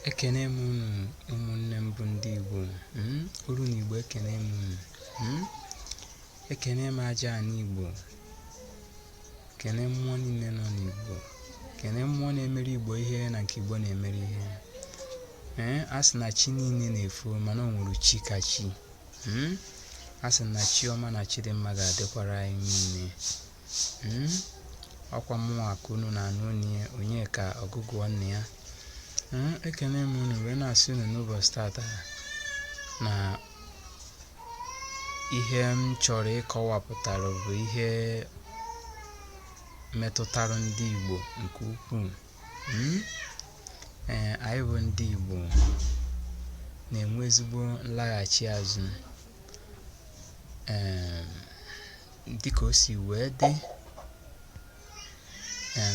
ekene m unu ụmụnne m bụ ndị Igbo hmm? olu na Igbo ekene m unu hmm? ekene m aja ana Igbo kene mmụọ niile nọ n'Igbo kene mmụọ na-emere Igbo ihe na nke Igbo na-emere ihe ee eh? a sị na chi niile na-efo mana o nwere chi ka chi hmm? a sị na chi ọma na chi dị mma ga-adịkwara anyị niile Hmm? ọkwa mụnwa ka unu na-anụ olu ya Onyeka ọgụgụọ nne ya hmm? ekene m unu wee na-asị unu n'ụbọchị tata na ihe m chọrọ ịkọwapụtara bụ ihe metụtara ndị Igbo nke ukwuu hmm? ee anyị bụ ndị Igbo na-enwe ezigbo nlaghachi azụ ee dịka o si wee dị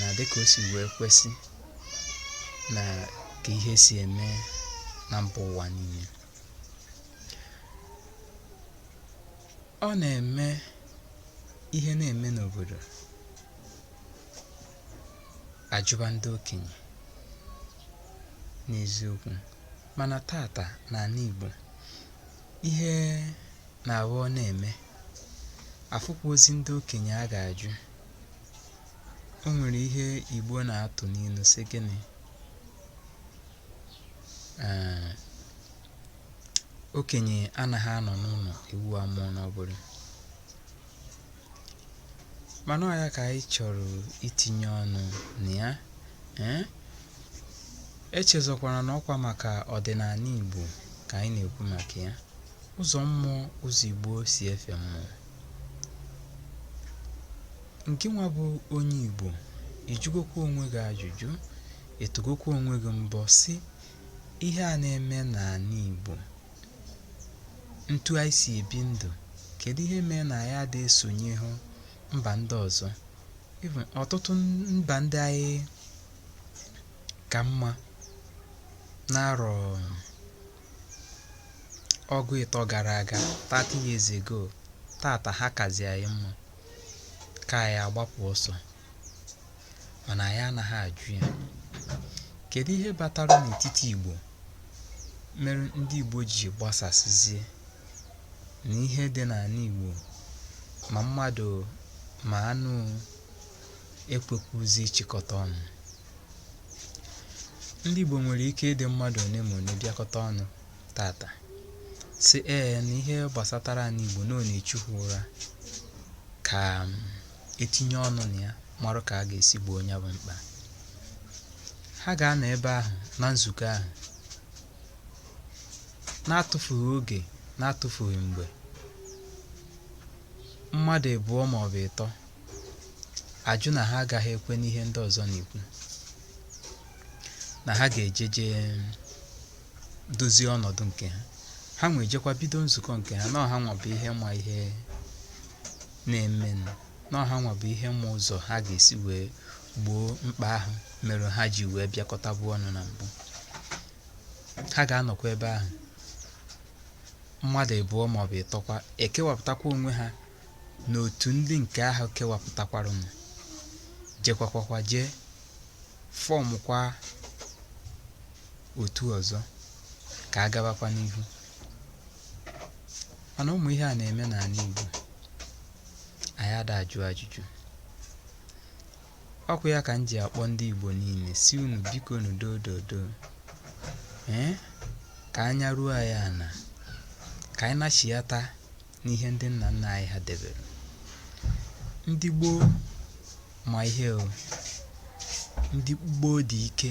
na dịka o si wee kwesị na ka ihe si eme na mba ụwa niile ọ na-eme ihe na-eme n'obodo a jụba ndị okenye n'eziokwu mana tata n'ala Igbo ihe na-aghọ ọ na-eme afụkwọzi ndị okenye a ga-ajụ o nwere ihe Igbo na-atụ n'ilu sị gịnị ee okenye anaghị anọ n'ụlọ ewu amụọ n'ọgbụrụ mana ọ ya ka anyị chọrọ itinye ọnụ na ya ee echezọkwara na ọkwa maka ọdịnala Igbo ka anyị na-ekwu maka ya Ụzọ mmụọ ụzọ Igbo si efe mmụọ. Ngị nwa bụ onye Igbo, ị jụgokwa onwe gị ajụjụ, ị tụgokwa onwe gị mbọ sị ihe a na-eme n'ala Igbo, ntu anyị si ebi ndụ, kedu ihe mee na anyị adịghị esonye hụ mba ndị ọzọ? Even ọtụtụ mba ndị anyị ka mma n'arọ ọgụ ịtọ gara aga 30 years ago tata ha kazi anyị mma ka anyị agbapụ ọsọ mana anyị anaghị ajụ ya kedu ihe batara n'etiti igbo mere ndị igbo ji gbasasịzie na ihe dị n'ala igbo ma mmadụ ma anụ ekwekwuzi ịchịkọta ọnụ ndị Igbo nwere ike ịdị mmadụ one ma one bịakọta ọnụ tata sị ee na ihe gbasatara anị Igbo na ọ na-echu ha ụra ka um, etinye ọnụ na ya marụ ka a ga-esi gboo nya bụ mkpa ha ga-anọ ebe ahụ na nzukọ ahụ na-atụfughị oge na-atụfughị mgbe mmadụ ịbụọ maọbụ ịtọ ajụ na ha agaghị ekwe n'ihe ndị ọzọ na-ekwu na ha ga-eje jee dozie ọnọdụ nke ha hanwa ejekwa bido nzukọ nke ha na ọ hanwa bụ ihe ma ihe na-eme na ọ hanwa bụ ihe ma ụzọ ha ga-esi wee gboo mkpa ahụ mere ha ji wee bịakọtabu ọnụ na mbụ ha ga-anọkwa ebe ahụ mmadụ ịbụọ maọbụ ịtọkwa ekewapụtakwa onwe ha na otu ndị nke ahụ kewapụtakwarụnụ jekwakwa je fọmụkwa otu ọzọ ka a gabakwa n'ihu mana ụmụ ihe a na-eme n'anị Igbo anyị ada ajụ ajụjụ okwu ya ka m ji akpọ ndị Igbo niile sị unu bikonu dododo ee ka anya ruo anyị ana ka anyị nachiyata n'ihe ndị nna nna anyị ha debere ndị gboo ma ihe o ndị gboo dị ike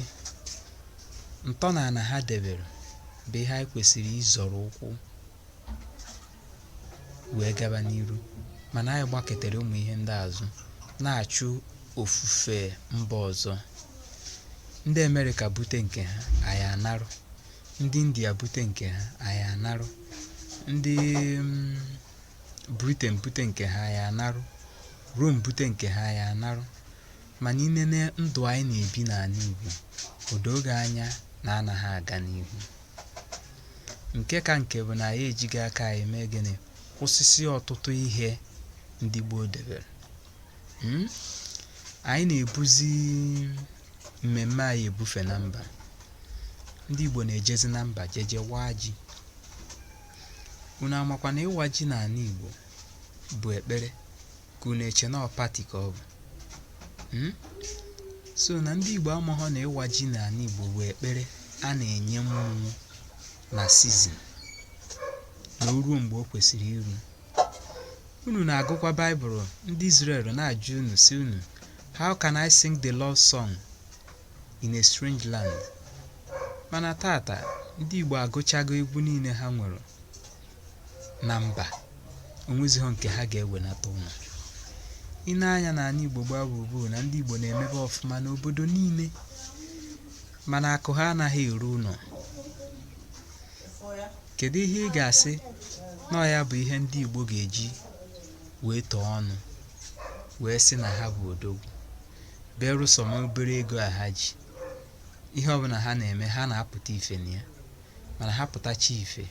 ntọala ha debere bụ ihe anyị kwesịrị ịzọrọ ụkwụ wee gaba n'iru mana anyị gbaketara ụmụ ihe ndị a azụ na-achụ ofufe mba ọzọ ndị Amerịka bute nke ha anyị anarụ Ndị India bute nke ha, anyị anarụ. Ndị mm, Britain bute nke ha, anyị anarụ. Rome bute nke ha, anyị anarụ. Mana ị nene ndụ anyị na-ebi n'anị Igbo, o doo gị anya na anaghị aga n'ihu. Nke ka nke bụ na anyị ejigo aka anyị mee gịnị kwụsịsị ọtụtụ ihe ndị gboo debere. Mm? Anyị na-ebuzi mmemme anyị ebufe na mba. Ndị Igbo na-ejezi na mba jeje waa ji. Unu amakwa na ịwa ji n'anị Igbo bụ ekpere ka unu eche na ọ pati ka ọ bụ. Hmm? So na ndị Igbo amaghọ na ịwa ji n'anị Igbo bụ ekpere a na-enye mmụọ na sizin na o ruo mgbe o kwesịrị iru. Unu na-agụkwa Baịbụl ndị Izrel na-ajụ unu sị unu How can I sing the Lord's song in a strange land. Mana tata, ndị Igbo agụchago egwu niile ha nwere na mba. O nwezighọ nke ha ga-ewenata ụnọ. Ị nee anya n'ani Igbo gbaa gburugburu na ndị Igbo na-emebe ọfụma n'obodo niile mana akụ ha anaghị eru ụnọ. Kedu ihe ị ga-asị na ọ ya bụ ihe ndị Igbo ga-eji wee tuo ọnụ wee sị na ha bụ odogwu? berụsọ ma obere ego a ha ji ihe ọbụla ha na-eme ha na-apụta ife na ya mana ha pụtacha ife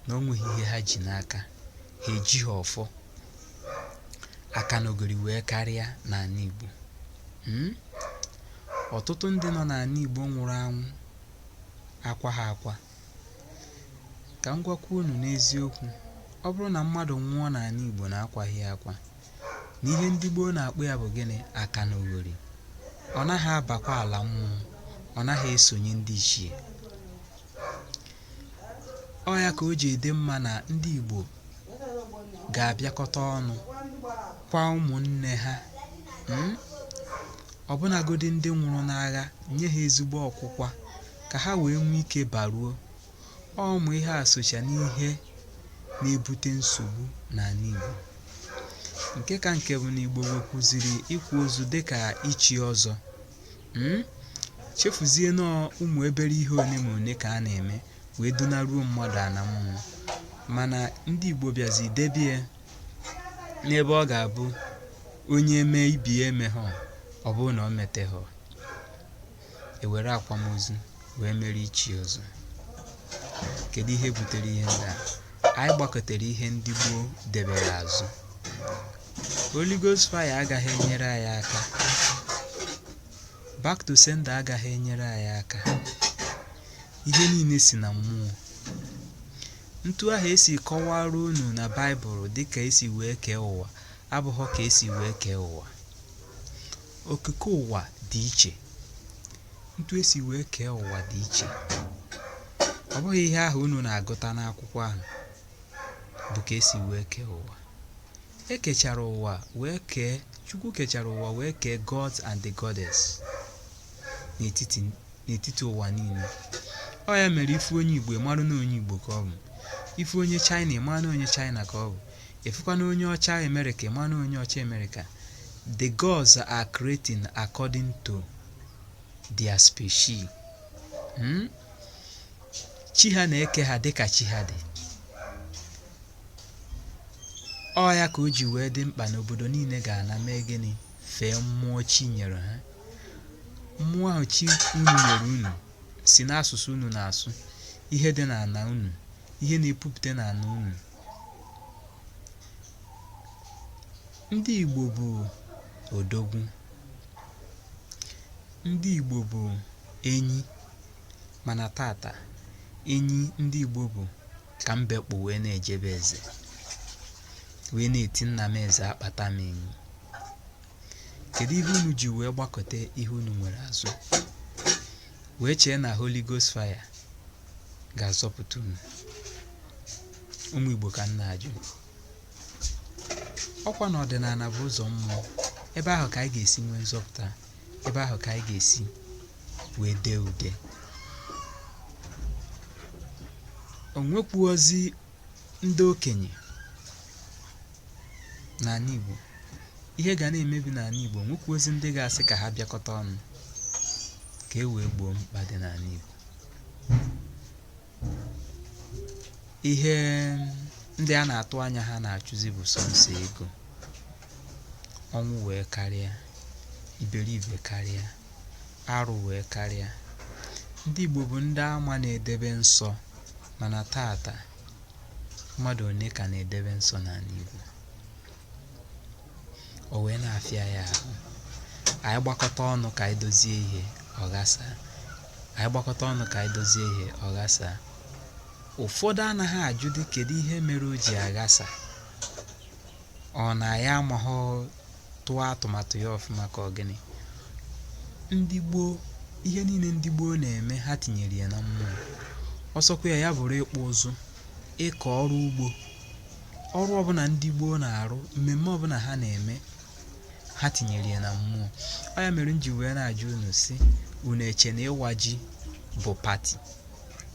na o nweghị ihe ha ji n'aka ha ejighi ọfọ aka n'ogori wee karịa n'ani Igbo hmm? ọtụtụ ndị nọ n'ani Igbo nwụrụ anwụ akwaghị akwa ka m gwakwa unu n'eziokwu ọ bụrụ na mmadụ nwụọ n'ani Igbo na akwaghị ya akwa na ihe ndị gboo na-akpọ ya bụ gịnị aka na oghori ọ naghị abakwa ala mmụọ ọ naghị esonye ndị ichie ọ ya ka o ji adị mma na ndị igbo ga-abịakọta ọnụ kwaa ụmụnne ha mm? ọbụnagodi ndị nwụrụ n'agha nye ha ezigbo ọkwụkwa ka ha wee nwee ike baruo Ọ ụmụ ihe a socha n'ihe na-ebute nsogbu n'ani Igbo. Nke ka nke bụ na Igbo wekwuziri ịkwa ozu dịka ichi ọzọ. Mm? Chefuzie na ọ ụmụ obere ihe one ma one ka a na-eme wee dunaruo mmadụ ana mmụọ. Mana ndị Igbo bịazi debie n'ebe ọ ga-abụ onye mee ibie emeghọ ọ bụrụ na o meteghọ. e were akwamozu wee mere ichi ọzọ kedu ihe butere ihe ndị a anyị gbakụtara ihe ndị gboo debere azụ Holy Ghost fire agaghị enyere anyị aka back to sender agaghị enyere anyị aka ihe niile si na mmụọ ntu ahụ e si kọwara unu na baịbụl dịka e si wee kee ụwa abụghọ ka e si wee kee ụwa okike ụwa dị iche ntu e si wee kee ụwa dị iche ọ bụghị ihe ahụ unu na-agụta n'akwụkwọ ahụ bụ ka e si wee kee ụwa e kechara ụwa wee kee chukwu kechara ụwa wee kee gods and the goddess n'etiti n'etiti ụwa niile ọ ya mere ị fụ onye igbo ị marụ na onye igbo ka ọ bụ ị fụ onye china ị marụ na onye china ka ọ bụ ị fụkwanụ onye ọcha amerịka ị marụ na onye ọcha amerịka the gods are creating according to their species hmm? chi ha na-eke ha dịka chi ha dị ọ ya ka o ji wee dị mkpa na obodo niile ga-ana mee gịnị fee mmụọ chi nyere ha Mmụọ ahụ chi unu nyere unu si n'asụsụ unu na-asụ, ihe dị n'ala unu, ihe na-epupụta n'ala unu. Ndị Igbo bụ odogwu. Ndị Igbo bụ enyi mana taata enyi ndị Igbo bụ ka mbe kpụ wee na-eje be eze wee na-eti nna m eze akpata m enyi. kedu ihe unu ji wee gbakụta ihe unu nwere azụ wee chee na Holy Ghost fire ga-azọpụta unu ụmụ Igbo ka m na-ajụ ọkwa na ọdịnala bụ ụzọ mmụọ ebe ahụ ka anyị ga-esi nwee nzọpụta ebe ahụ ka anyị ga-esi wee dee ude o nwekwuozi ndị okenye n'ala Igbo ihe ga na-emebi n'ala Igbo o nwekwuozi ndị ga-asị ka ha bịakọta ọnụ ka e wee gboo mkpa dị n'ala Igbo ihe ndị a na-atụ anya ha na-achụzi bụ sọsọ ego ọnwụ wee karịa iberibe karịa arụ wee karịa ndị Igbo bụ ndị a ma na-edebe nsọ mana taata mmadụ one ka na-edebe nsọ n'ala Igbo o wee na-afịa ya ahụ anyị gbakọta ọnụ ka anyị dozie ihe ọ ghasa ụfọdụ anaghị ajụdị kedu ihe mere o ji aghasa Ọ na ya amaghọ tụọ atụmatụ ya ọfụma ka ọ gịnị? Ndị gboo, ihe niile ndị gboo na-eme ha tinyere ya na mmụọ. Ọ sọkwa ya ya bụrụ ịkpụ ụzụ, ịkọ ọrụ ugbo. Ọrụ ọbụla ndị gboo na-arụ, mmemme ọbụla ha na-eme, ha tinyere ya na mmụọ. Ọ ya mere m ji wee na-ajụ unu sị, unu eche na ịwa ji bụ pati?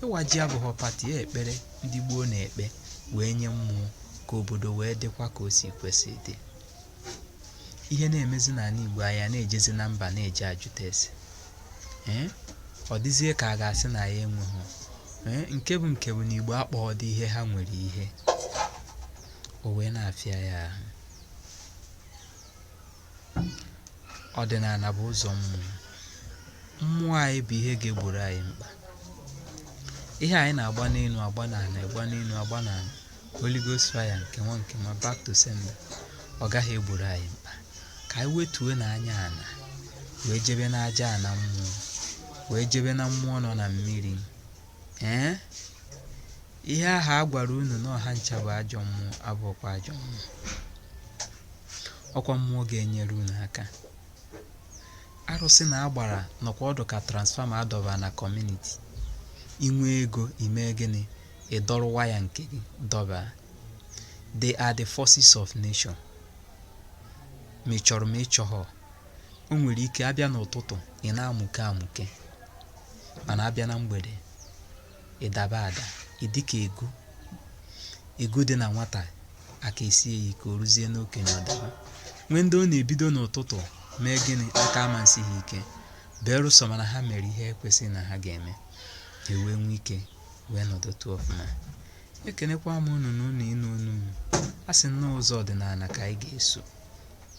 Ịwa ji abụghọ pati, ya ekpere ndị gboo na-ekpe wee nye mmụọ ka obodo wee dịkwa ka o si kwesị dị ihe na-emezi n'ala Igbo anyị na-ejezi na mba na-eje ajụta ese ee ọ dịzie ka a ga-asị na ya enweghị ee nke bụ nke bụ na Igbo akpọghọdị ihe ha nwere ihe o wee na-afịa ya ahụ ọdịnala bụ ụzọ mmụọ mmụọ anyị bụ ihe ga-egboro anyị mkpa ihe anyị na-agba n'elu agba n'ala agba n'elu agba n'ala Holy Ghost fire nke nwa nke nwa back to sender ọ gaghị egboro anyị mkpa ka anyị wetuonụ anya ala wee jebe n'aja ala mmụọ wee jebe na mmụọ nọ na mmiri ee Ihe ahụ a gwara unu na ọ ha ncha bụ ajọ mmụọ abụghịkwa ajọ mmụọ. Ọkwa mmụọ ga-enyere unu aka. Arụsị na agbara nọkwa ọdụ ka transformer a dọbara na community. Ị nwee ego i mee gịnị? Ị dọrọ waya nke gị dọba. They are the forces of nature. Ma ị chọrọ ma ị chọghọ, o nwere ike a bịa n'ụtụtụ ị na-amụke amụke mana a bịa na mgbede Ị daba ada, ị dị ka egu. Egu dị na nwata aka esie ya ike o ruzie n'okenye ọ daba. Nwee ndị ọ na-ebido n'ụtụtụ mee gịnị aka ama esi ha ike berụsọ ma na ha mere ihe e kwesịrị na ha ga-eme ha wee nwee ike wee nọdụtụ ọfụma ekenekwa m unu na unu ịnụ onu m a sị na ụzọ ọdịnala ka anyị ga-eso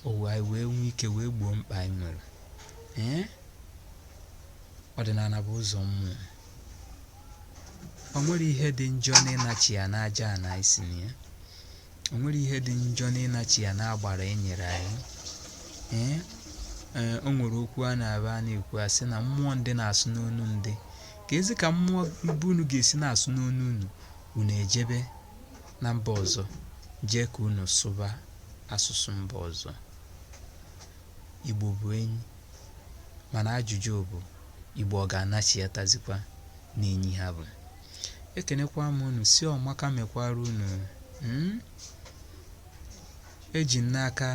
owu anyị wee nwee ike wee gboo mkpa anyị nwere ee ọdịnala bụ ụzọ mmụọ o nwere ihe dị njọ n'ịnachigha n'aja ana anyị si na ya o nwere ihe dị njọ n'ịnachigha n'agbara e nyere anyị ee ee o nwere okwu a na-aba a na-ekwu a sị na mmụọ ndị na-asụ n'onu ndị ka ezi ka mmụọ ebe unu ga-esi na-asụ n'onu unu unu ejebe na mba ọzọ jee ka unu sụba asụsụ mba ọzọ igbo bụ enyi mana ajụjụ bụ Igbo ọ ga-anachighatazikwa n'enyi ha bụ ekenekwa m unu sị ọmaka mekwara unu hmm? eji m n'aka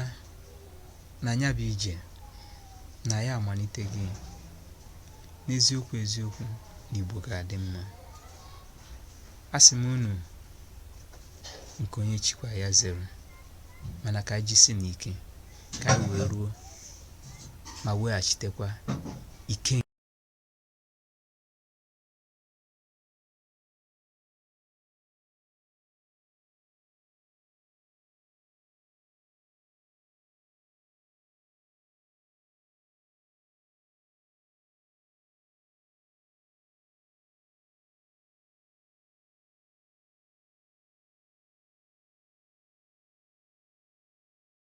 na ya bụ ije na ya amalite gị n'eziokwu eziokwu na Igbo ga-adị mma asị m unu nke onye chikwa ya zere mana ka anyị jisi n'ike ka anyị wee ruo ma weghachitekwa ike